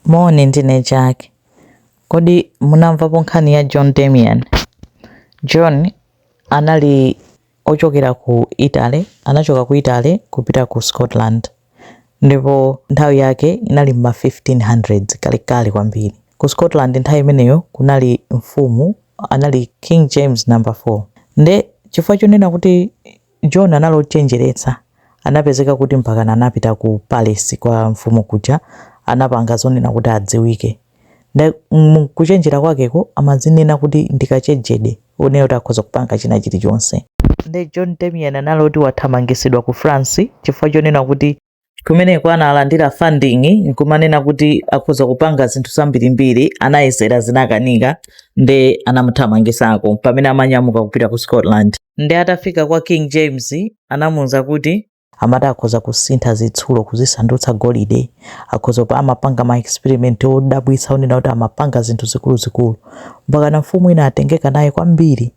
Moni, ndine Chake. Kodi munamvapo nkhani ya John Damian? John anali ochokera ku Italy, anachoka ku Italy kupita ku Scotland. Ndipo nthawi yake inali m'ma 1500s, kalekale kwambiri. Ku Scotland nthawi imeneyo kunali mfumu, anali King James number 4. Nde chifukwa chonena kuti John anali ochenjeretsa, anapezeka kuti mpakana anapita ku palesi kwa mfumu kuja anapanga zonena kuti adziwike nde mu kuchenjera kwakeko amadzinena kuti ndi kachejede onena kuti akhoza kupanga china chilichonse. Nde John Damian anali oti wathamangitsidwa ku France chifukwa chonena kuti kumeneko analandira funding nkumanena kuti akhoza kupanga zinthu zambirimbiri anayesera zinakanika nde anamuthamangisako pamene amanyamuka kupita ku scotland nde atafika kwa king james anamuuza kuti amati akhoza kusintha zitsulo kuzisandutsa golide akhoza kupa amapanga ma experiment odabwitsa onena kuti amapanga zinthu zikuluzikulu mpakana mfumu inatengeka naye kwambiri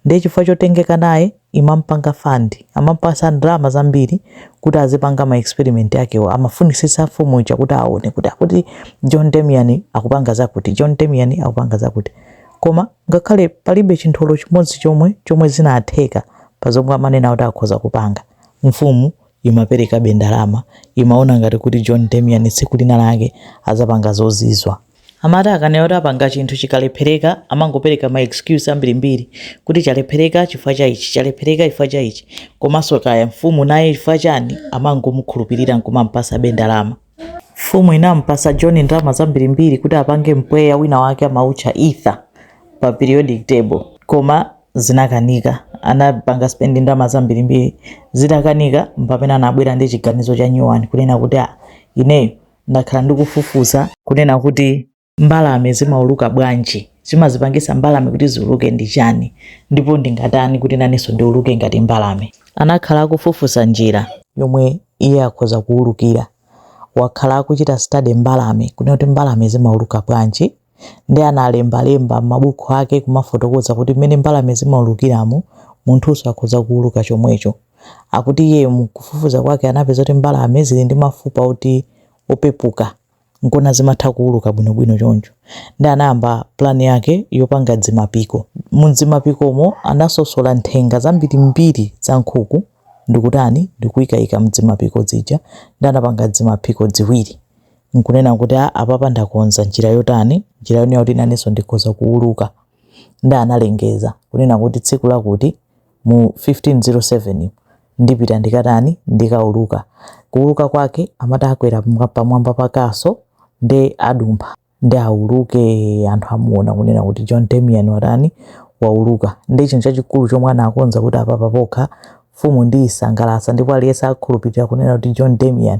ndiye chifukwa chotengeka naye imampanga fund amampatsa ndalama zambiri kuti azipanga ma experiment akewo amafunisitsa mfumu ija kuti aone kuti akuti john damian akupanga zakuti john damian akupanga zakuti koma ngakhale palibe chinthu olo chimodzi chomwe chomwe chinatheka pa zomwe amanena kuti akhoza kupanga mfumu imaperekabe ndalama imaona ngati kuti john damian tsiku lina lake adzapanga zozizwa Amati akanena oti apanga chinthu chikalephereka amangopereka ma excuse ambirimbiri kuti chalephereka chifukwa cha ichi, chalephereka chifukwa cha ichi komanso kaya mfumu naye chifukwa chani amangomukhulupirira nkumampatsabe ndalama. Mfumu inampatsa John ndalama zambirimbiri kuti apange mpweya wina wake amautcha Ether pa periodic table koma zinakanika, anapanga spend ndalama zambirimbiri, zitakanika mpamene anabwera ndi chiganizo cha new one kunena kuti ah ineyo ndakhala ndikufufuza kunena kuti mbalame zimauluka bwanji chimazipangitsa mbalame kuti ziuluke ndi chani ndipo ndingatani kuti nanenso ndiuluke ngati mbalame anakhala akufufuza njira yomwe iye akhoza kuulukira wakhala akuchita study mbalame kunena kuti mbalame zimauluka bwanji nde analembalemba m'mabuku ake kumafotokoza kuti mmene mbalame zimaulukiramu munthunso akhoza kuuluka chomwecho akuti iye mkufufuza kwake anapeza kuti mbalame zili ndi mafupa oti opepuka nkuona zimatha kuuluka bwinobwino choncho nde anayamba plan yake yopanga dzimapiko mdzimapikomo anasosola nthenga zambirimbiri za nkhuku ndikutani ndikuikayika mdzimapiko dzija nde anapanga dzimapiko dziwiri n'kunena kuti, a, apapa ndakonza njira yotani, njira yonena kuti nanenso ndikhoza kuuluka. Nda analengeza kunena kuti tsiku lakuti mu 1507 ndipita ndikatani ndikauluka. Kuuluka kwake amati akwera pamwa- pamwamba pa castle nde adumpha nde auluke anthu amuona kunena kuti John Damian watani wauluka. Nde chinthu chachikulu chomwe anakonza kuti apapa pokha mfumu ndiyisangalatsa ndipo aliyense akhulupirira kunena kuti John Damian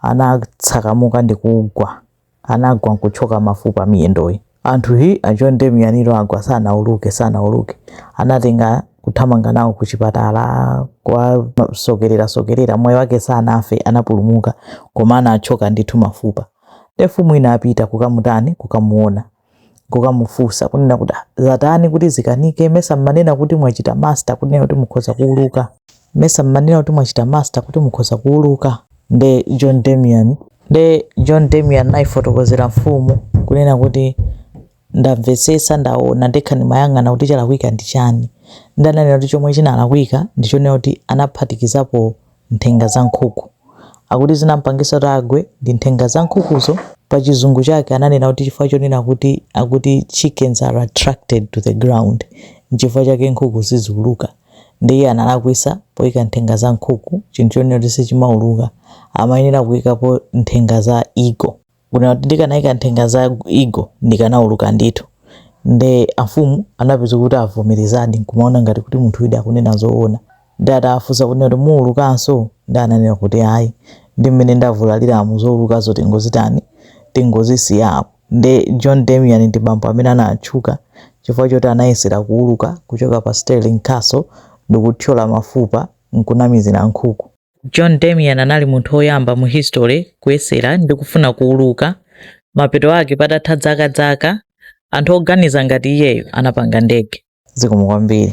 anatsakamuka ndikugwa anagwa nkuthyoka mafupa miyendoyi anthu hi achonde miyaniro agwa sanauluke sanauluke anatenga kuthamanga nawo ku chipatala kuwasokerera sokerera mwayi wake sanafe anapulumuka koma anathyoka ndithu mafupa nde mfumu inapita kukamutani kukamuona kukamufunsa kunena kuti "Ah, zatani kuti zikanike mesa mmanena kuti mwachita master kunena kuti mukhoza kuuluka mesa mmanena kuti mwachita master kuti mukhoza kuuluka nde john damian nde john damian nayifotokozera mfumu kunena kuti ndamvetsetsa ndaona ndekha ndimayang'ana kuti chalakwika ndi chani ndaona kuti chomwe chinalakwika ndichonena kuti anaphatikizapo nthenga za nkhuku. Akuti zinampangisa kuti agwe ndi nthenga za nkhukuzo. Pa chizungu chake ananena kuti chifukwa chonena kuti akuti chickens are attracted to the ground nchifukwa chake nkhuku siziuluka. Nde iye analakwitsa poika nthenga za nkhuku chinthu chonena kuti sichimauluka. Amayenera kuikapo nthenga za eagle. Kunena kuti ndikanaika nthenga za eagle ndikanauluka ndithu. Nde amfumu anapeza kuti avomerezadi nkumaona ngati kuti munthuyudi akunena zoona. Nde atawafunsa kunena kuti muulukanso? Nde ananena kuti ayi. Ndi mmene ndavulaliramu zoulukazo tingozitani? Tingozisiya apo. Nde John Damian ndi bambo amene anatchuka chifukwa choti anayesera kuuluka kuchoka pa Stirling Castle ndikuthyola mafupa nkunamizira nkhuku. John Damian anali munthu woyamba mu history kuyesera ndi kufuna kuuluka. Mapeto ake patatha zaka zaka, anthu oganiza ngati iyeyo anapanga ndege. Zikomo kwambiri.